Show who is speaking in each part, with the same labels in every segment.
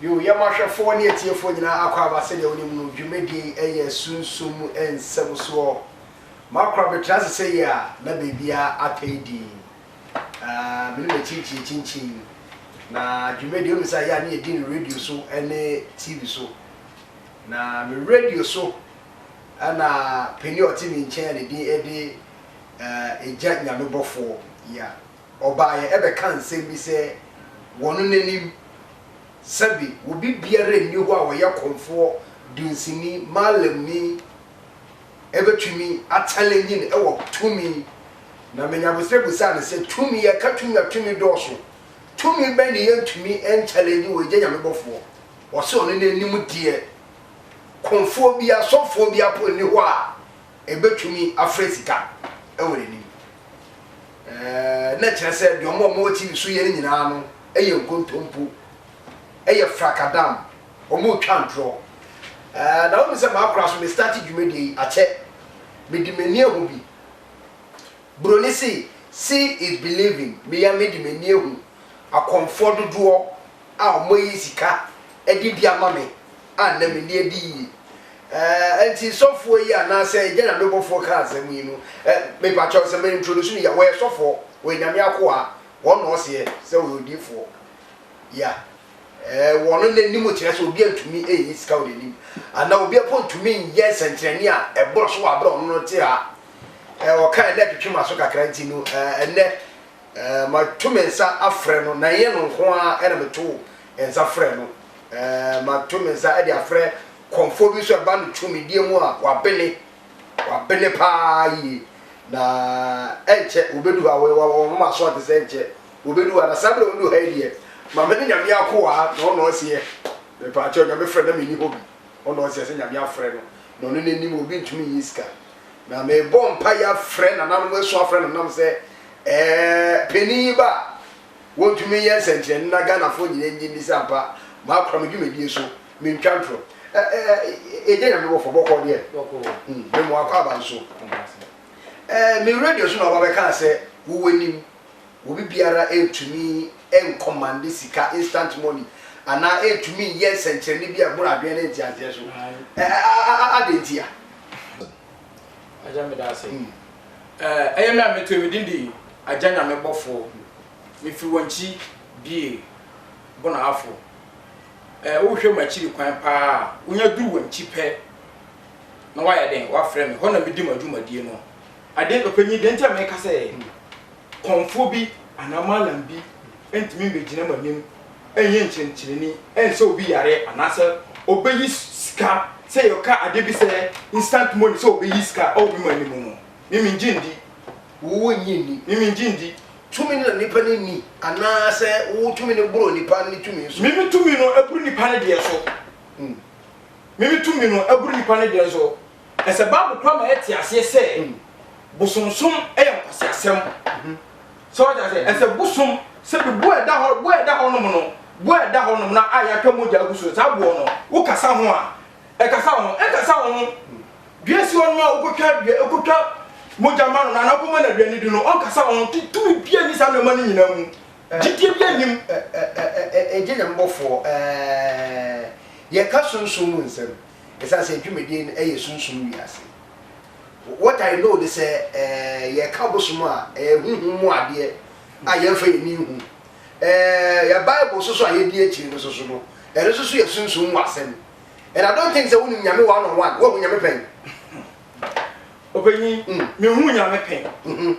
Speaker 1: Bio, yɛma ahwɛfoɔ ne atiefoɔ nyinaa akwaaba sɛdeɛ wonim no, dwumadie yi ɛyɛ sunsum mu nsɛm soɔ. Makora metra ase sɛyie a, na baabiara atɛe dinn. Aah, me ne m'akyinkyin akyinkyin. Na dwumadie, wonim sɛ ɛyɛ a ne yɛdi no radio so ne TV so. Na me radio so na panin a ɔte me nkyɛn a ne din de Egya Nyamebɔfoɔ, yeah. ɔbaeɛ bɛkaa nsɛm bi sɛ wɔno n'anim sɛbe obi biara nni hɔ a ɔyɛ kɔmfoɔ, dunsini, malamni bɛtumi akyɛlɛngye no wɔ tumi. Na Menyabosrɛ bisaa no sɛ, tumi, yɛka tumi a tumi dɔɔso, tumi bɛn ne yɛntumi nkyɛlɛngye wɔ Agya Nyame bɔfoɔ? Ɔse ɔno n'anim deɛ kɔmfoɔ biara, sɔfoɔ biara mpo nni hɔ a. Ebetumi afrɛ sika wɔ n'anim. Na ɛkyerɛ sɛ deɛ wɔn a wɔwɔ TV so yɛ no nyinaa no yɛ nkontompo, ɛyɛ frakadam, wɔretwa ntorɔ. Na wonim sɛ makora so, me starte dwumadie yi akyɛ, mede m'ani ahu bi. Buroni se, see is believing, mea mede m'ani ahu akɔmfoɔ dodoɔ a wɔayi sika de bi ama me a nnɛ menni adi yiye. Eh, enti sɔfoɔ yi anaasɛ agya na mebɔfoɔ kaa asɛm yi no, eh, mepakyɛw sɛ me introduce no yia, wɔyɛ sɔfoɔ, wɔyɛ Nyame akoa, wɔn na ɔseɛ sɛ ɔyɛ odiyifoɔ. Yea, eh, wɔ no n'anim kyerɛ sɛ obi antumi anyi sika wɔ n'anim, anaa obi mpo ntumi nyɛ nsɛnkyerɛnne a ɛboro so wɔ abere a ɔno no te ha. Eh, ɔkae na ɛtwetwe m'aso kakra nti no, eh, ɛnnɛ Eh, matu me nsa afrɛ no, na ɛnyɛ no nko ara na metoo nsa frɛɛ no. Eh, matu me nsa de afrɛ kɔmfoɔ bi nso a ɛba no tumidie mu a wabene, wabene paa yie. Na ɛnkyɛ wɔbɛdu ha, wɔyɛ wɔn wɔn aso ate sɛ ɛnkyɛ wɔbɛdu ha. Na saa berɛ a wɔdu ha yi deɛ, maame ne nyame akoa na ɔna ɔseɛ. Mepaakyɛw, nyame frɛ na menni hɔ bi. Ɔna ɔseɛ sɛ nyame afrɛ no, na ɔno n'anim obi ntumi nyi sika. Na mebɔ mpaeɛ afrɛ nananom, asu afrɛ nananom sɛ eh, panin yi ba a, wɔntumi nyɛ nsɛnkyerɛnne na Ghanafoɔ nyinaa nnye nni sɛ ampa makora me dwumadie so, mentwa ntorɔ. Eh, eh, yɛgye Nyame bɔfoɔ, bɔkɔɔ deɛ? Bɔkɔɔ. Hmm, mema wo akwaaba nso. Eh, me radio so na wɔba bɛkaa sɛ wo w'anim, obi biara ntumi nkɔmande sika, instant money, anaa ntumi nyɛ nsɛnkyerɛnne bi a ɛboro adwene ne nteaseɛ so. Eh, a, a, a, adɛn ntia? Agya meda ase. Ɛyɛ me a metoo me din de Agya Nyame bɔfoɔ. Mefiri Wankyi Bie Bonahafo. Wohwɛ m'akyiri kwan paa a, wonya duru Wankyi pɛ na woayɛ dɛn? Woafrɛ me. Hɔ na medi m'adwumadie no. Adeɛ, ɔpanyin, deɛ nti a meka sɛ. kɔmfoɔ bi anaa mallam bi ntumi mmɛgyina mo anim nyɛ nkyerɛkyerɛni nsa obi yareɛ anaasɛ ɔbɛyi sika sɛ yɛka adeɛ bi sɛ instant money sɛ ɔbɛyi sika wɔ obi man no mu no, me mengye nndi. Wo nnye nni? Me mengye nndi. Tumi no na nnipa no nni anaasɛ wo tumi no boro nnipa no tumi so? Me me tumi no boro nnipa no deɛ so. Me me tumi no boro nnipa no deɛ so. Ɛsɛ Bible koraa ma yɛte aseɛ sɛ bosonsom yɛ nkwaseasɛm. So wate aseɛ? Ɛsɛ bosom sɛ bi boɔ a ɛda hɔ boɔ a ɛda hɔ nom no boɔ a ɛda hɔ nom no a yɛaka mogya agu so saa boɔ no wokasa ho a ɛkasa wo ho ɛnkasa wo ho dua si hɔ nom a wokɔtwa dua wokɔtwa mogya ma no na anaa wokɔma no aduane di no ɔnkasa wo ho ti tumi bia ni saa nneɛma no nyinaa mu gyidie bia nim ɛgye ne mbɔfoɔ ɛɛ yɛka sunsum mu nsɛm. Esiane sɛ dwumadi no yɛ sunsum wiase, what I know ne sɛ yɛka ɔbosom a, ɛyɛ honhom mu adeɛ a yɛmfa yɛn ani nhu. Yɛn Bible nso so a yɛdi akyire no nso so no, ɛno nso so yɛ sunsum mu asɛm. And I don't think sɛ wonim Nyame one on one. Woahu Nyame pɛn? Ɔpanyin, mehuu Nyame pɛn.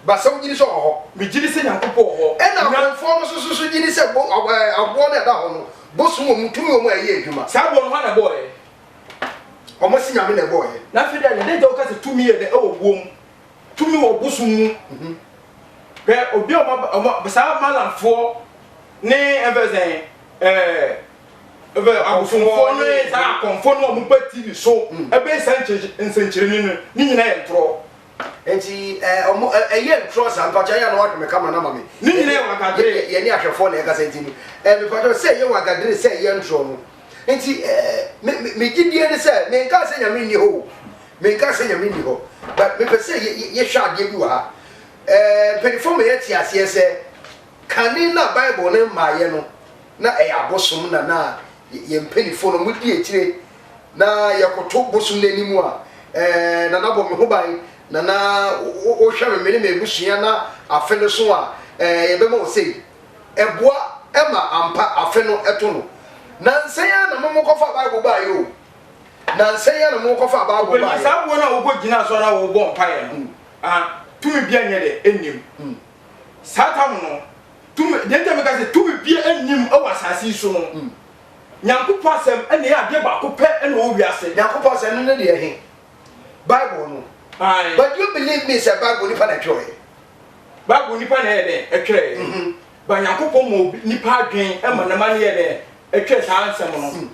Speaker 1: Ba sɛ wogyidi sɛ ɔwɔ hɔ? Megyidi sɛ Nyankopɔn wɔ hɔ. Ɛna Amonfoɔ no nso susu gyidi sɛ bo ɛɛ aboɔ no a ɛda hɔ no, bosom wɔ mu, tumi wɔ mu a ɛyɛ adwuma. Saa boɔ no hwan na ɛbɔɔɛ? Wɔn se Nyame na ɛbɔɔɛ. Na afei deɛ adɛn nti a woka sɛ tumi yɛ dɛ ɛwɔ boɔ mu, tumi wɔ bosom mu? Hwɛ obi a wɔn aba wɔn saa Malamfoɔ ne ɛmfɛ sɛ sɛn ɛɛ ɛmfɛ abosomfoɔ ne saa akɔmfoɔ no a wɔn ba ti ne so ɛbɛyɛ saa nkyerɛ nsɛnkyerɛni no ne nyinaa yɛ ntorɔ. Nti eh ɔmo eh ɛyɛ ntorɔ saa mpakyɛw ayɛ a na wahwɛ me camera no ama me. Ne nyina yɛ wagadere. Yɛ yɛne ahwɛfoɔ na ɛkasa nti no eh mepatwɔ sɛ ɛyɛ wagadere sɛ ɛyɛ ntorɔ no nti eh me me me gyidie ne sɛ menkaa sɛ nyame nni hɔ o menkaa sɛ nyame nni hɔ but mepɛ sɛ yɛ yɛ yɛhwɛ adeɛ bi wɔ ha eh mpaninfoɔ ma yɛte aseɛ sɛ Kane na Bible no mmaeɛ no, na ɛyɛ abosom na na yɛn mpaninfoɔ no wɔdi akyire. Na yɛkoto bosom no anim a, ɛɛ, Nana bɔ me ho ban, Nana wohwɛ me, me ne m'abusua na afe no so a, ɛɛ, yɛbɛma wo sei. Ɛboa ma ampa afe no to no. Nansa yi ara na mo mokɔfaa Bible baeɛ o, nansa yi ara na mo mokɔfaa Bible baeɛ. Ɔpanyin, saa boɔ no a wokɔgyina so ara na wobɔ mpaeɛ no, ah, tumi biara nyɛ dɛ, nni mu. Saa tam no, tumi, deɛ nti meka sɛ tumi bia nnim wɔ asase yi so no, Nyankopɔn asɛm na ɛyɛ adeɛ baako pɛ na ɔwɔ wiase. Nyankopɔn asɛm no ne deɛ he? Bible no. Aye. But do you believe me sɛ Bible nipa na ɛtwerɛɛ? Bible nipa na ɛyɛ dɛn? Ɛtwerɛɛ. Mm -hmm. Ba Nyankopɔn ma nipa adwen ma nama no yɛ dɛn? Ɛtwerɛ saa nsɛm no. Mm.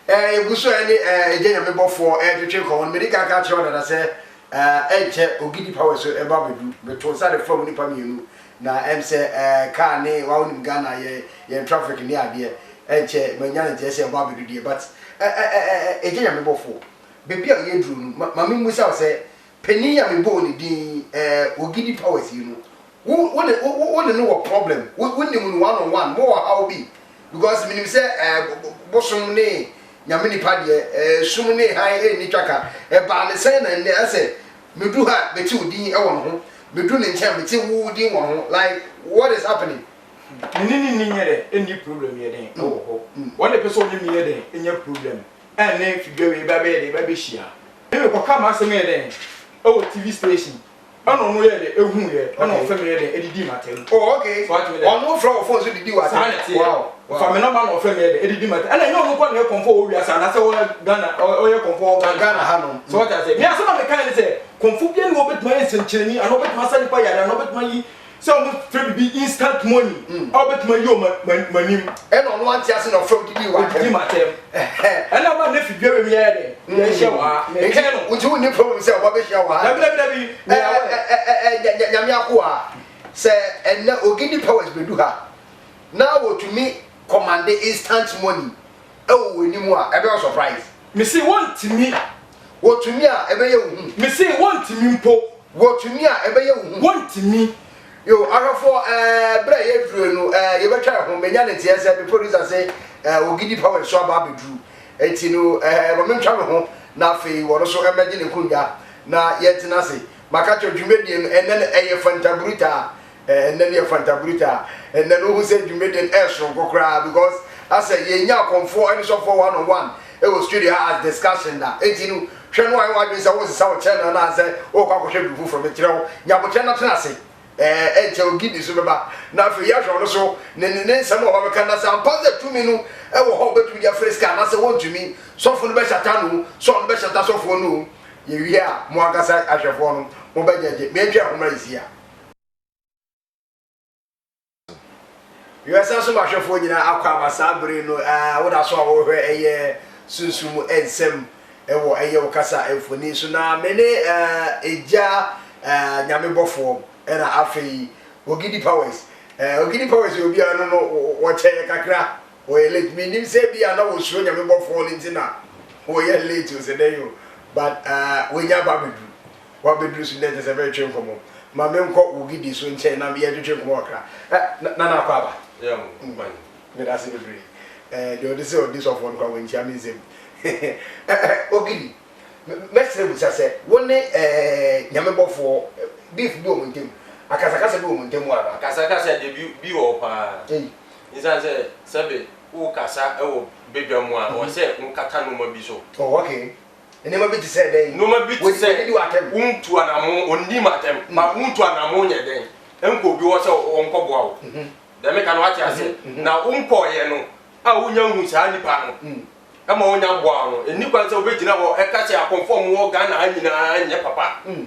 Speaker 1: Eh, yɛgu so eh, ne eh, agya nyame bɔfoɔ eh, twetwe nkɔmmɔ no. Mede kan ka kyerɛ wo dada sɛ eh, ɛnkyɛ Ogidi Power so ɛbɛ abɛdu. Meto nsa de fam nipa mmienu na ɛm sɛ eh, kaa ne wawonim Ghana yɛ yɛn traffic ne adeɛ ɛnkyɛ manya ne nteɛ sɛ ɛbɔ abɛdu deɛ but eh, eh, eh, eh, agya nyame bɔfoɔ baabi a yɛduru no ma, ma memmusa wo sɛ Panin a mebɔɔ ne din yi eh, Ogidi Powers yi no, wo wo ne wo wo ne no wɔ problem, wo wo nim no one on one, mowɔ ɔhaw bi? Because menim sɛ eh, bo bo bosom ne Nyame nipa deɛ, eh, sum ne hann ɛnni twaka. Ɛbaa ne sɛn na nnɛ ɛsɛ medu ha mete wo din ɛwɔ ne ho, medu ne nkyɛn mete wo wo din wɔ ne ho, like what is happening? Me ne ne nni nyɛ dɛn nni problem yɛ dɛn ɛwɔ hɔ, ɔne pɛ sɛ ɔne me yɛ dɛn nya problem, ɛnne fi dwa wei ba bɛyɛ dɛ ba bɛhyia me me kɔka m'asɛm yɛ dɛn ɛwɔ TV station ɛna ɔno yɛ dɛ ɛhu yɛ ɛna ɔfɛ me yɛ dɛn ɛdidi m'atɛm oh ok ɔno frɛ wɔ phone so didi w'atɛm saa nɛte yɛ ɔfa me nɔma na ɔfɛ me yɛ dɛ ɛdidi m'atɛm ɛna ɛnyɛ ɔno kɔ na yɛ kɔmfɔ wɔ wiase anasɛ ɔyɛ Ghana ɔyɛ kɔmfɔ wɔ Ghana Ghana ha nom so ɔte aseɛ me asɛm a me ka yɛ ne sɛ kɔmfɔ bia ne wɔ bɛtuma yɛ nsɛnkyerɛni anaa ɔbɛtuma sa nipa yare anaa ɔbɛtuma yi Sɛ ɔmo fɛ bibi instant money a ɔbɛtumi ayi wɔ m'anim. Ɛna ɔno ante ase na ɔfɛ odidi wɔ atɛm. Odidi m'atɛm. Ɛna ama ne fi dua bɛ mi yɛyɛ dɛ. Yɛ hyɛ wɔ ha. Mɛ kɛn no. Nti wo ni problem sɛ ɔba bɛ hyia wɔ ha. Dabi dabi dabi. Ɛ ɛ ɛ ɛ nyame akoa sɛ ɛnɛ ogini powers bɛ du ha na wɔ tumi kɔmande instant money. Ɛwɔ wo anim a ɛbɛyɛ wo surprise. Me se wo ntumi. Wɔ tumi a ɛbɛyɛ wo hu. Me se wo ntumi mpo. Wɔ tumi a ɛbɛyɛ wo hu. Wo ntumi. Yo, ahwɛfoɔ ɛɛ berɛ a yɛdurue no ɛɛ yɛbɛtwa yɛn ho, menya ne teɛ sɛ me producer se ɛɛ Ogidi Power nso aba abɛduru, enti no ɛɛ ma mentwa me ho na afei ɔno nso mmɛgye ne nkonnwa na yɛntena ase. Maka kyerɛ wo, dwumadie no ɛnnɛ no ɛyɛ fantabrutaa. Ɛnnɛ deɛ fanta bruta ɛnnɛ no wohu sɛ dwumadi no ɛsoronko koraa because asɛ yɛnnya akɔmfoɔ ne sɔfoɔ one on one ɛwɔ studio ha as discussion da enti no hwɛ no ayɛ w'adwene sɛ wosesa wo channel no anaasɛ worekɔ akɔhwɛ biribi foforɔ mekyerɛ wo nya aboterɛ na tena ase ɛɛ ɛnkyɛ ogi bi nso bɛba na afei yɛhwɛ ɔno so ne ne ne nsɛm a ɔba bɛka na sɛ ampa sɛ tumi no ɛwɔ hɔ ɔbɛtumi de afiri sika anaasɛ wɔntumi sɔfo no bɛhyata no sɛ ɔno bɛhyata sɔfoɔ no yɛwie a mo ankasa ahwɛfoɔ no mobɛgyagye mentwa ɛho mmra yɛsi a Wiase asomahyɛfoɔ nyinaa akɔ aba saa bere no aa woda so a worehwɛ ɛyɛ sunsum mu nsɛm wɔ ɛyɛ wo kasa mfoni so na me ne aa egya aa nyame bɔfoɔ ɛna afei Ogidi Powers aa Ogidi Powers yɛ obiara no no wɔkyɛ yɛ kakra wɔyɛ late me nim sɛ bi a na wɔsuro nyame bɔfoɔ no nti na wɔyɛ late o sɛ dɛn o but aa wɔanya aba abɛduru W'abɛduru so dɛ nkyɛ sɛ bɛretwe nkɔmmɔ. Ma menkɔ wo gidi so nkyɛn na yɛntwetwe nkɔmmɔ kakra. Ɛ, na, Nana Akwaaba? Yɛ ho kwan. Meda ase bebree. Ɛɛ, deɛ ɔde sɛ ɔdi sɔfoɔ no koraa, wankyia me nsam. Ɛ, ɛ, Ogidi, mɛ, mɛsrɛ bisa sɛ, wo ne, ɛɛ, Nyame bɔfoɔ, beef bi wɔ mo ntam? Akasakasa bi wɔ mo ntam hɔ anaa? Akasakasa deɛ bi, bi wɔ hɔ pa ara. Ei. Esiane sɛ, sɛbe worekasa wɔ badwa mu a, ɛwɔ sɛ wokata nnoɔma bi so. Oh, okay. Nneɛma bi te sɛ dɛn? Nneɛma bi te sɛ wɔnni w'atɛm. Wontu anamo, wɔnni m'atɛm. Ma mm. wontu anamo nyɛ dɛn? Nkɔ obi hɔ sɛ wɔnkɔboa wo. Mhm. Dɛm ka no wate ase. Mhm, mhm. Na wonkɔɔyɛ no a wonya hu saa nipa no mm. ɛma wonya boa no. Ɛnni kwan sɛ wobɛgyina hɔ ɛka sɛ akɔmfo a wɔwɔ Ghana ha nyinaa nyɛ papa. Mm.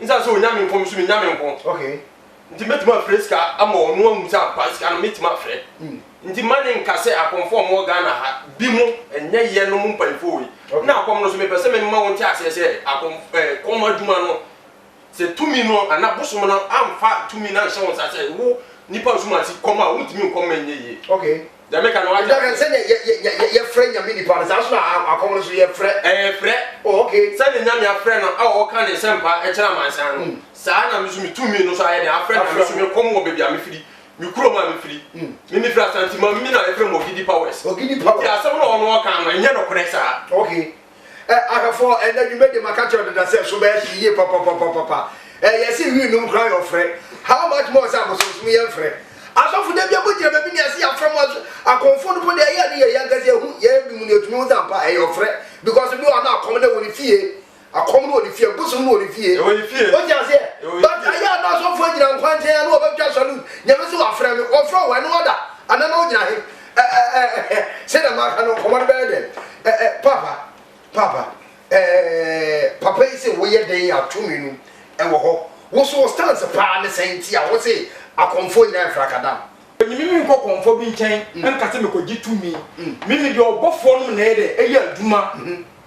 Speaker 1: Esiane sɛ onya me nko no nso, minnya me nko. Enti metumi afrɛ sika ama ɔno ahu sɛ ampa sika no metumi afrɛ. Enti mma ne nka sɛ akɔmfoɔ a wɔwɔ Ghana ha bi mo nyɛ yɛnom mpanyimfoɔ wei. Ɛna akɔm no nso, mepɛ sɛ mema wo nte aseɛ sɛ akɔm ɛɛ kɔm adwuma no, sɛ tumi no anaa bosom no amfa tumi no anhyɛ wo nsa sɛ wo nipa Asumansi kɔm a, wontumi nkɔm ma ɛnyɛ yie. Deɛ meka no wate Nti aka aseɛ? sɛdeɛ yɛ yɛ yɛ yɛ yɛfrɛ nyame nipa no saa nso na a akɔm no so yɛfrɛ Ɛɛ frɛ. oh okay. Sɛdeɛ Nyame afrɛ no a ɔɔka ne nsɛmpa kyerɛ amansan no, saa na me nso me tumi no nso ayɛ dɛn afrɛ Nyame so me kɔm wɔ baabi a me firi, me kurom a me firi. Me me firi Asante Mambi na yɛfrɛ me Ogidi Powers. Ogidi Powers. Nti asɛm no a ɔno ɔɔka no ɛnyɛ nokorɛ saa. Okay. Ɛ, ahwɛfo, ɛnnɛ dwumadi maka kyerɛ wo deda sɛ so bɛyɛ hye yie papapapapa. Ɛ, yɛse wii nom koraa yɛ ɔfrɛ. How much more sɛ abosonsom yɛ mfrɛ. Asɔfo da biara mogyina baabi ne yɛse yɛafrɛ mo aso, akɔmfo no mpo deɛ ɛyɛ a ne yɛ yɛn ankasa yɛhu, yɛyɛ binom no yɛtumi hu sɛ ampa ɛyɛ ɔfrɛ because ebi wɔ hɔ no akɔm no wɔ ne fie, akɔm no wɔ ne fie, bosom no wɔ ne fie. Ɛwɔ ne fie. Wote aseɛ? Ɛwɔ ne But fie. ɛyɛ a na asɔfo agyina nkwankyɛn a na wɔbɛtwa salute, Nyame se wafrɛ me, ɔfrɛ wo, ɛno ɔda, anaa na wogyina he? Ɛ ɛ ɛ ɛ ɛ Sɛnea maka no, nkɔmmɔ no bɛyɛ dɛn? Ɛ ɛ Paapa, Paapa, ɛ ɛ ɛ ɛ Papa yi se woyɛ dɛn a tumi no wɔ hɔ? Wo nso wo stance paa ne sɛn nti a wose akɔmfoɔ nyinaa yɛ frakadam? Ɔnye me menkɔ kɔmfoɔ bi nkyɛn nka sɛ mekɔgye tumi. Mimi deɛ ɔbɔfoɔ nom na ɛyɛ dɛ, ɛyɛ adwuma.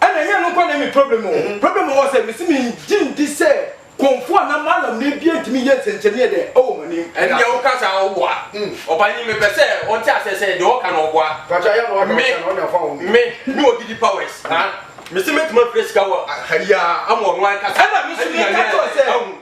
Speaker 1: Ɛna ɛnyɛ ɛno nkoa na ɛyɛ me problem o. Problem a mewɔ sɛ mese mengye ndi sɛ Komfo anaa Mallam no abia ntumi nyɛ nsɛnkyerɛnee deɛ ɛwɔ mo anim. Ɛna Ɛndeɛ woka saa a woboa. Ɔpanyin mepɛ sɛ ɔte aseɛ sɛ deɛ ɔka no ɔboa. Pakyɛ ayɛ na waka ɔka na ɔnya fa wɔ mu. Me, me me wɔ Didi Powers na mese mɛtumi afrɛ sika wɔ ha yi ara ama ɔno ankasa Ɛna me nso meka kyerɛ wo sɛ.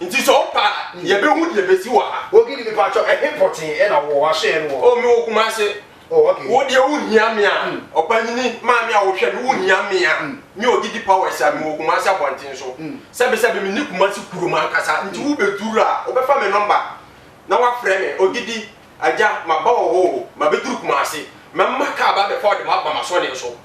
Speaker 1: Nti sɛ ɔpɛ a, yɛbɛhu deɛ ɛbɛsi wɔ ha. Ogidi, Mepakyɛw, ɛhe pɔtee na wowɔ? W'asoɛeɛ no wɔ? Oh, mewɔ Kumasi. Oh, okay. Wo deɛ wonhia me a, ɔpanyini, maame a wohwɛ me, wonhia me a, me Ogidi Powers a mewɔ Kumasi abɔnten so. Sɛbesɛbe menni Kumasi kurom ankasa, nti wobɛduru a, wobɛfa me nɔmba na woafrɛ me, Ogidi, Agya, maba wɔ hɔ o, mabɛduru Kumasi. Mɛma kaa aba abɛfa wo de woaba m'asɔneɛ so.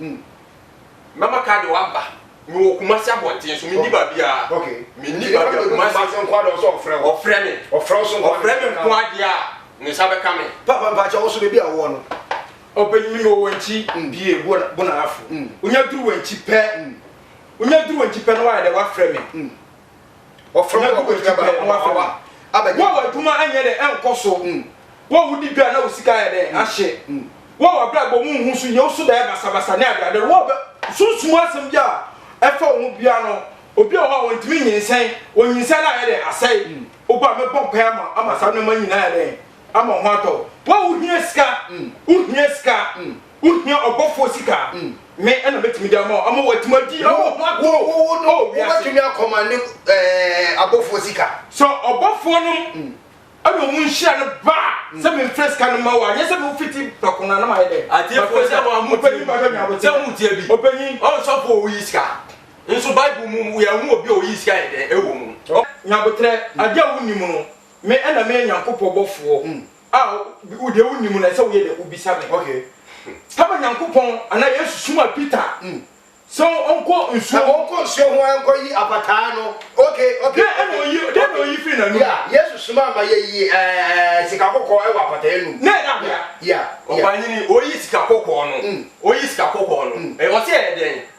Speaker 1: Mɛma car de wo aba. Mewɔ Kumasi abɔnten so, menni baabiara. Menni baabiara, Kumasi. Ɔfrɛ me. Ɔfrɛ me nko ara deɛ a, ne nsa bɛka me. Papa mpakyɛ, wo nso baabi a wowɔ no. Ɔbɛyi me wɔ Wankyi. Bie, Bonarafo. Wonya duru Wankyi pɛ, wonya duru Wankyi pɛ na woayɛ dɛ woafrɛ me. Ɔfrɛ wo abɛgye berɛ na wafrɛ wo abɛgye. Wo a w'adwuma anyɛ dɛ ɛnkɔ so. Wo a wodi dwa na wo sika ayɛ dɛ ahye. Wo a w'abrabɔ mu nhu so, nyew so bɛyɛ basabasa ne adeade. Wo a bɛ sunsum asɛm bi a ɛfa wo ho biara no, obi wɔ hɔ a ontumi nyinsɛn, onyinsɛn no ayɛ dɛ asɛe. Wo ba, mɛbɔ mpaeɛ ama wo ama saa nneɛma nyinaa ayɛ dɛ ama wo ho atɔ wo. Wo a wohia sika, wohia sika, Wo hia ɔbɔfoɔ sika a, me na mɛtumi de ama wo ama woatumi adi wo ho atorɔ wɔ wiase. Wo no wobɛtumi akɔma ne abɔfoɔ sika. Sɛ ɔbɔfoɔ nom ɛna ɔmo nhyira no ba a, sɛ me nfrɛ sika no ma wo a, nyɛ sɛ me wo fiti prɛko no a na mayɛ dɛ. Atiefoɔ sɛ mo a mo tie bi, sɛ mo tie bi, ɔnsɔfoɔ a ɔyi sika nso bible mu yɛ hu obi a ɔyi sika yɛ dɛ ɛwɔ mu. Nyaboterɛ, adeɛ a wo nnim no, me ɛna meyɛ Nyankopɔn bɔfoɔ a wo deɛ wonim no ɛsɛ woyɛ dɛ wobisa me ok kama nyankopɔn anaa yesu suma peter mm. sɛ ɔnkɔ nsuo ɔnkɔ nsuo ho ankɔ yi apataa no ok ok ɛna oyi dɛ na oyi firi n'anum ya yesu suma ama yɛ yi ɛɛ sika kɔkɔɔ ɛwɔ apataa anum na ɛda bea ya ɔbanyini oyi sika kɔkɔɔ no mm. oyi sika kɔkɔɔ no mm. ɛwɔ sɛ ɛdɛn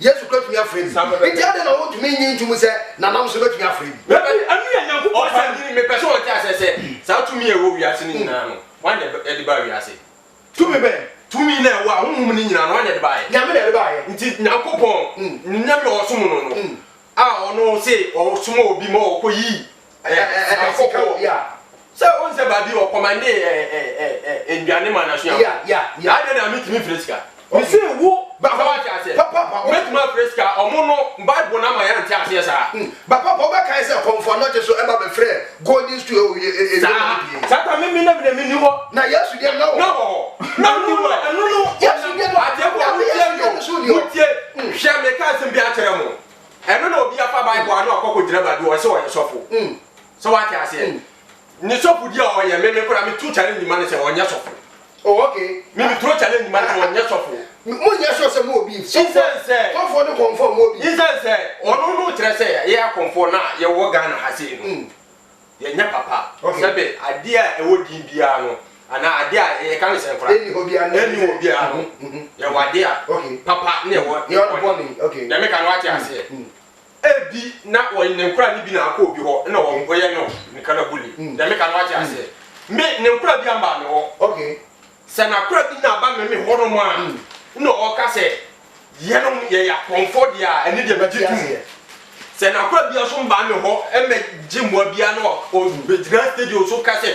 Speaker 1: yesu kura tumi afrɛ bi nti adɛn na wontumi nyi ntom sɛ nanam nso bɛtumi afrɛ bi ɛno yɛ nyankopɔn ɔfa nyini mepɛ sɛ ɔte asɛ sɛ saa tumi a ɛwɔ wiase no nyinaa no wan na ɛde baa wiase tumi bɛn tumi na ɛwɔ a honhom no nyinaa no wan na ɛde baeɛ nyame na ɛde baeɛ nti nyankopɔn ne nyame a ɔsom no no a ɔno se ɔsoma obi ma ɔkɔ yi sika wɔ obi a sɛ o nsɛ baabi ɔ kɔmande ɛ nduane ma n'asuafo saa deɛ na metumi fire sika me se wo ba hɔ ate aseɛ mɛtumi afire sika ɔmo no bible na ma yɛ nte aseɛ saa ba papa ɔbɛkae sɛ kɔmfoɔ anɔgye so ɛba bɛfrɛ Golden stool o yɛ e e yɛ o bie. Saa saa mi mi na mi na mi ni hɔ. Na Yesu deɛ na wɔ hɔ. Na wɔ hɔ. Na ni hɔ. Ɛnu no Yesu deɛ na adeɛ bɔ a mo tie mi o mo tie hwɛ mi ka asɛm bi akyerɛ mo ɛnu na obi afa bible ano akɔ kɔ gyina baabi ɔsɛ ɔyɛ sɔfo sɛ wate aseɛ ne sɔfo di a ɔyɛ mi mi kora mi tu challenge ma no sɛ ɔnyɛ sɔfo Oh ok me me throw challenge ma no ɔnyɛ sɔfo. Mo nyɛ sure sɛ mo wɔ beef. Sɔfo sɔfoɔ ne kɔnfoɔ a mo wɔ beef. Nsan sɛ ɔno no kyerɛ sɛ yɛ akɔnfoɔ no a yɛ wɔ Ghana ha sei no yɛ nyɛ papa sɛbe adeɛ a ɛwɔ din biara no anaa adeɛ a yɛ ka no sɛ nkora ɛni hɔ biara no yɛ wɔ adeɛ a papa ne ɛwɔ bɔne deɛ me ka no wate aseɛ. Ebi na wɔnye ne nkora no bi na akɔ obi hɔ na wɔnkɔyɛ no ne ka na buli. Deɛ meka no wate aseɛ. Me, ne nkora bi ambaa me hɔ. Okay. Sɛ n'akora bi na aba me me hɔnom a, na ɔka sɛ, Yɛnom yɛyɛ akɔmfoɔ deɛ a, ɛno deɛ megye tom. Sɛ n'akora biara nso mbaa me hɔ mmɛgye mmoa biara na ɔbɛgyina studio so ka sɛ,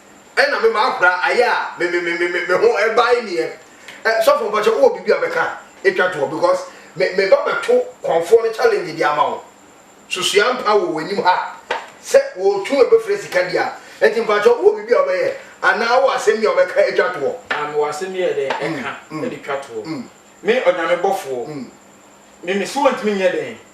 Speaker 1: Ɛna me maa kura ayɛ a me me me me me ho ɛbae nie ɛ sɔfo mpakyɛ wowɔ biribi a bɛka ɛtwa toɔ because me me ba bɛto kɔnfoɔ no challenge de ama wo so sua mpa wɔ w'anim ha sɛ wɔtu ɛbɛfrɛ sika di a ɛnti mpakyɛ wowɔ biribi a wobɛyɛ anaa wowɔ asɛm bi a wobɛka ɛtwa toɔ. Ah mewɔ asɛm bi a ɛdɛn ɛka ɛde twa toɔ me ɔnyame bɔfoɔ me me so wɔntumi nyɛ dɛn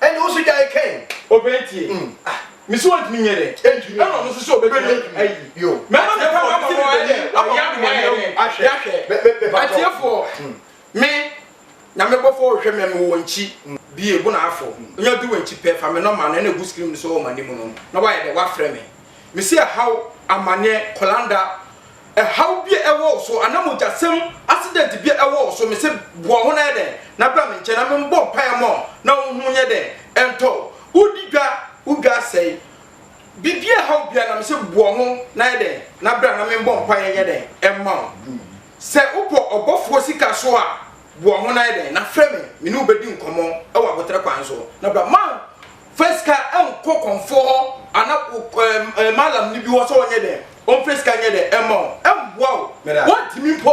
Speaker 1: Ɛnde wo nso gyae kɛn. Obey ntie ah me se ontumi nyɛ dɛ. Ɛna ɔno nso se obetumi ayi. Mɛma me papa ama mo ayɛ wayɛ ama mo ayɛ hu yahwɛ. Atiefoɔ me na me bɔfoɔ wohwɛ me me wɔ nkyi bie bona afɔ nya du wɔ nkyi pɛ fa me nɔma no ɛna gu screen no so wɔ manim no na wayɛ dɛ wafrɛ me me se ɛhaw amaneɛ kɔlanda Ɛhaw bi a ɛwɔ wo so anaa mogyasɛm accident bi a ɛwɔ wo so, mese boa ho na yɛ dɛn na bra me nkyɛn na me mbɔ mpaeɛ mma wo na wo ho nyɛ dɛn ɛntɔ wo. Wo di dwa, wo dwa asɛe, biribi a ɛhaw biara na mese boa ho na yɛ dɛn na bra na me mbɔ mpaeɛ nyɛ dɛn mma wo. Sɛ wo bɔ ɔbɔfoɔ sika so a, boa ho na yɛ dɛn na frɛ me, me ne wo bɛdi nkɔmmɔ wɔ aboterɛ kwan so na bra. Fa sika nkɔ kɔmfoɔ hɔ anaa wo mallam no bi hɔ sɛ ɔnyɛ dɛn, ɔmfa sika nyɛ dɛn mma wo, ɛmboa wo, ɔntumi mpo,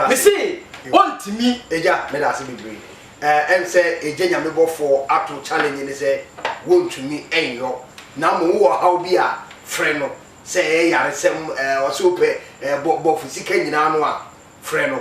Speaker 1: mese ɔntumi. Agya, meda ase bebree. Eh, ɛm sɛ Agya Nyame bɔfoɔ ato challenge no sɛ wɔntumi nyɔ, na mmom wowɔ ɔhaw bi a, frɛ no, sɛ ɛyɛ yaresɛm, eh, ɔse wopɛ, eh, bɔ, bɔfo sika nyinaa no a, frɛ no.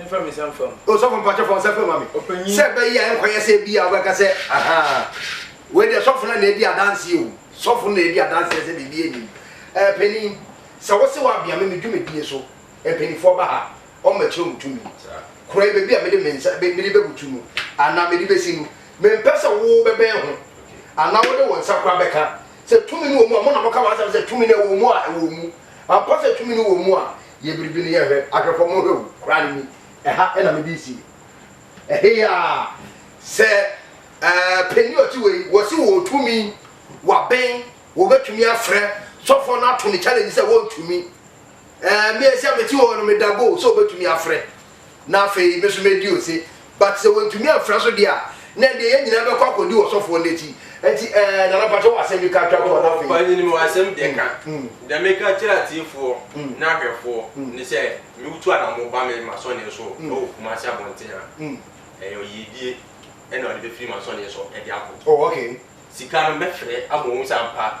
Speaker 1: Mfa me nsa mfam. Osɔfo mpakyɛ fa wo nsa fam ma me. Ɔpanyin. Sɛ ɛbɛ yi a ɛnkɔ yɛ sɛ ɛbi yi a wobɛka sɛ ahaa wei deɛ sɔfo no na ɛdi adanseɛ o sɔfo no na ɛdi adanseɛ sɛ biribi ɛnni mu ɛɛ panin sɛ wo se wo abea me me dwumadie so mpaninfoɔ ba ha ɔmo ɛkyerɛ ɔmo tumi korɔ yɛ baabi a mede me nsa me mede bɛbutu no anaa mede bɛsi no me mpɛ sɛ wo bɛbɛn ho anaa wode wo nsa kora bɛka sɛ tumi no wɔ mu a mo na mo ka w'asɛm sɛ tumi no ɛwɔ mu a ɛwɔ mu. Ampa sɛ tumi no wɔ mu a yɛ biribi no yɛ hwɛ ahwɛ fam hwɛ o kora no ni ɛha na me de si ɛheyaa sɛ ɛɛ pɛni ɔte wɔ yi wɔ se wɔ tumi wɔ bɛn wɔ bɛ tumi afrɛ sɔfɔ no ato ne challenge sɛ wɔ ntumi ɛɛ me ɛsi a me te wɔ no me da go sɛ wɔ bɛ tumi afrɛ na afei me nso mɛdi ose, but sɛ wɔntumi amfra so deɛ a, na ɛndeɛ yɛn nyinaa bɛkɔ akɔdi ɔsɔfoɔ no akyi, ɛnti ɛɛ Nana mpakyɛ wo asɛm bi ka twa toɔ na afei. Ɔpanyini me wɔ asɛm deɛ ka, deɛ meka kyerɛ atiefoɔ ne ahwɛfoɔ ne sɛ meretu anamɔ ba me masɔneɛ so wɔ Kumasi abɔnten a, ɛyɛ yiedie na ɔde bɛfiri masɔneɛ so de akɔ, sika no mɛfrɛ ama wɔhu sɛ ampa,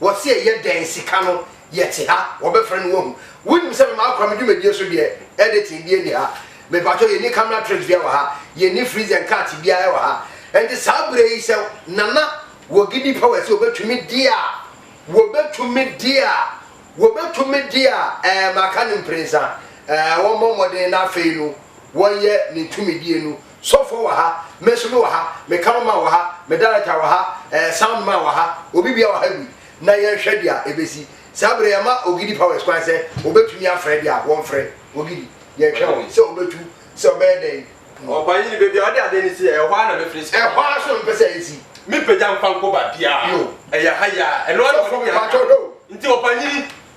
Speaker 1: Wɔse ɛyɛ dɛn sika no yɛte ha wɔbɛfrɛ no wahu wonim sɛ me makora me dwumadie so deɛ editing bia nni ha mepakyɛw yɛnni camera tricks bia wɔ ha yɛnni freeze and cut bia ɛwɔ ha ɛnti saa berɛ yi sɛ Nana wɔ gidi pa wɔ sɛ obɛtumi deɛ a wɔbɛtumi deɛ a wɔbɛtumi deɛ a ɛɛ maka no mprɛnsa ɛɛ wɔmmɔ mmɔden na afei no wɔyɛ ne tumidie no Sɔfoɔ wɔ ha, Mesome wɔ ha, me Cameraman wɔ ha, me Director wɔ ha, eh, Sound man wɔ ha, obi bia wɔ ha bi na yɛnhwɛ dea ɛbɛsi. Saa berɛ yi yɛma Ogidi Powers kwan sɛ wɔbɛtumi afrɛ dea wɔmfrɛ. Ogidi, yɛhwɛ wo sɛ wobɛtu sɛ ɔbɛyɛ dɛn? Ɔpanyin no baabi a ɔde adeɛ no si yɛ ɛhɔ ara na mefiri sika no. Ɛhɔ ara so na mepɛ sɛ ɛsi. Mempagya mfa nkɔ baabiara. Yo. Ɛyɛ ha yi ara. Ɛno ara na Sɔfoɔ wɔde me aka. mpakyɛw hwɛ o. Nti ɔpanyin,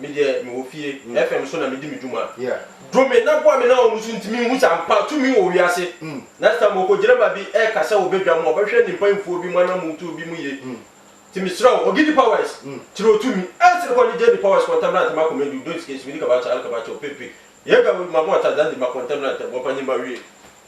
Speaker 1: Me deɛ mewɔ fie, FM so na medi me dwuma. Dom me na boa me na wɔn so nti menhu sɛ ampa tumi wɔ wiase. Next time okogyirema bi ɛka sɛ obedwa mu a ɔbɛhwɛ ne mpanyinfoɔ bi mu anamontuo bi mu yie. Nti mesrɛ wo Ogidi Powers, Tiro Tumi, Else kɔ ne Jenny Powers Contemporary Ntɛm Akoma Edu, Don't Escape Simi Dika Bacha Alka Bacha Ope Pe, Yega Wema Mo Ata Zandi Ma Contemporary Ntɛm Wɔpanyin Mawie.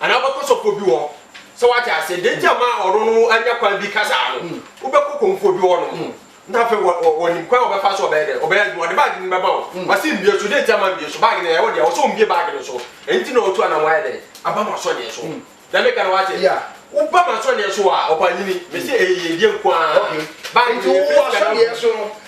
Speaker 1: Anaa wobɛkɔ sɔfoɔ bi hɔ. Sɛ wate aseɛ, deɛ nti a ma ɔno no anya kwan bi kasa no, wobɛkɔ komfoɔ bi hɔ nom, na afei ɔnim kwan a ɔbɛfa so ɔbɛyɛ dɛn, ɔbɛyɛ adwuma, ɔde baage no bɛma wo, wase mbie so, deɛ nti a ma mbie so, baage no ɛyɛ wo dea, ɔsɛ ɔmbie baage no so, ɛno nti na ɔretu anamɔ ayɛ dɛn, aba m'asɔneɛ so. Deɛ meka no wate? Woba m'asɔneɛ so a, ɔpaanyini, mese ɛyɛ yiedie nko ara, baage no yɛ biribiara gu mu.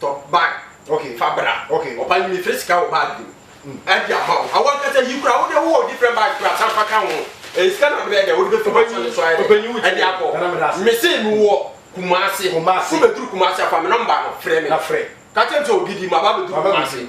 Speaker 1: Tɔ bag ok fa bra ok ɔba yi mefrɛ sika wɔ bag no mu ɛde ama wo awɔ ankasa yi kora wode wowɔ different bag kora san fa ka ho ɛyɛ sika na wode bɛyɛ dɛ wode bɛfi mu asane so ayɛ dɛ ɛde akɔ mese mewɔ Kumasi wobɛduru Kumasi afa me nɔmba no frɛ me ka kyɛm sɛ ogidi maba bɛduru Kumasi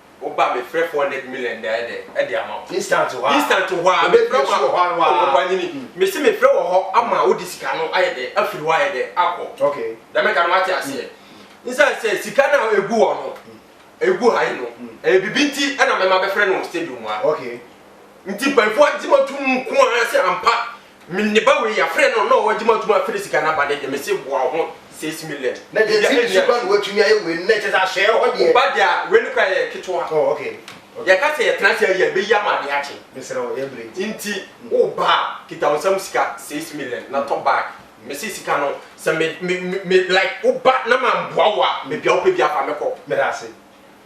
Speaker 1: Wo ba me frɛ four hundred million dɛɛ dɛ ɛde ama wo. Instant hɔ a. Instant hɔ a me frɛ ma ɔpanyini me se me frɛ wɔ hɔ ama wo de sika no ayɛ dɛ afiri hɔ ayɛ dɛ akɔ. Ok. Deɛ meka no wate aseɛ. Nsan sɛ sika no a egu hɔ no egu ha yi no ɛyɛ bibi nti ɛna mɛma bɛfrɛ no wɔ stadium ha. Ok. Nti mpaefoɔ agye matum nko ara sɛ ampa. Me ne ba wei yɛafrɛ no na ɔwɔ adwuma ɔtumi afiri sika no aba no deɛ mese boa wo ho six million na biribi a ɛnni akyire. Ɛtiri so ba na watumi ayɛ wei no na ɛkyɛ sɛ ahyɛɛ hɔ deɛ. Wo ba deɛ a wei no koraa yɛ ketewa. Oh ok ok. Yɛka sɛ yɛtena ase a yɛ bɛyi ama adeɛ akye. Mesrɛ wo yɛ brɛ nti. Nti wo ba a kita wo nsam sika six million na tɔ bag mese sika no sɛ me me me like wo ba na mamboa wo a baabi a wopɛ biara fa me kɔ. Meda ase.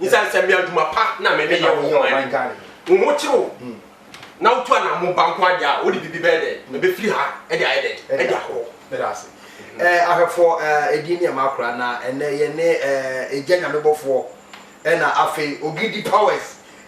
Speaker 1: Nsansabi adwuma pa na me meyɛ wɔ ɔman Ghana mu. Wo ho kyere wo na wotu anammo ba nko ara deɛ a, wode biribi bɛyɛ dɛn? Ɛbɛfiri ha de ayɛ dɛn? De akɔ. Meda ase. Eh, ahwɛfoɔ, eh, edin ne ɛma akora, na ɛnnɛ yɛne, eh, Egya Nyamebɔfoɔ, ɛna afei Ogidi Powers,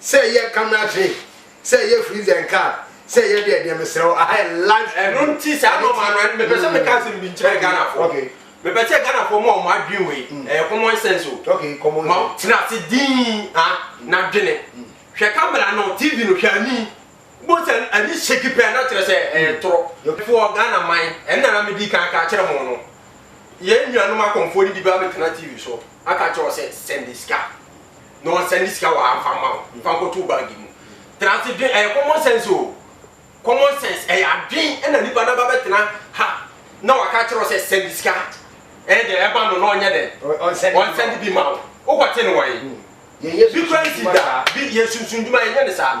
Speaker 1: Sɛ ɛyɛ camera trick, sɛ ɛyɛ freeze and cut, sɛ ɛyɛ deɛ deɛ mesrɛ wo aha yɛ live stream. Ɛno nti saa nnoɔma no ɛno mepɛ sɛ meka asɛm bi nkyerɛ Ghanafoɔ. Mepɛ sɛ Ghanafoɔ mo a wɔn adwene wei ɛyɛ common sense o. Ma tena ase dinn ha na dwene. Hwɛ camera no, TV no hwɛ ani. Wobohu sɛ ani shake pɛ a na kyerɛ sɛ ɛyɛ ntorɔ. Foɔ Ghana man ɛno na na medi kan aka akyerɛ mo no. Yɛn nuanom akɔmfoɔ no bi bɛabɛtena TV so aka akyerɛ wo sɛ send sika. na ɔnsan de sika wɔ ha mfa mma wo. Fa nkɔto wo bag mu. Tena ase dwen, ɛyɛ common sense o, common sense, ɛyɛ adwen na nipa no aba bɛtena ha na waka akyerɛ wo sɛ sɛnde sika, ɛyɛ dɛn, ɛba no na ɔnyɛ dɛn, ɔnsɛnde bi mma wo. Wokɔte no wɔn? Bi koraa nsi da, bi, yɛnsunsum dwuma, yɛnyɛ no saa.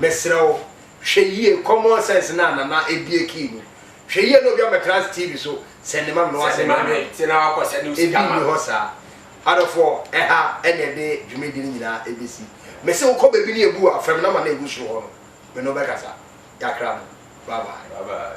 Speaker 1: Mesrɛ wo, hwɛ yie, common sense no a Nana abue key mu. Hwɛ yie na obi ammɛtra ase TV so sɛnde ma me na wasɛnde ama me. Ebi nni hɔ saa. Adɔfoɔ, ɛha na yɛde dwumadi no nyinaa bɛsi. Mese wo kɔ baabi na yɛbu wo a, frɛ me number no a ɛgu soro hɔ no, me ne wo bɛkasa. Yɛakra mo. Bye bye.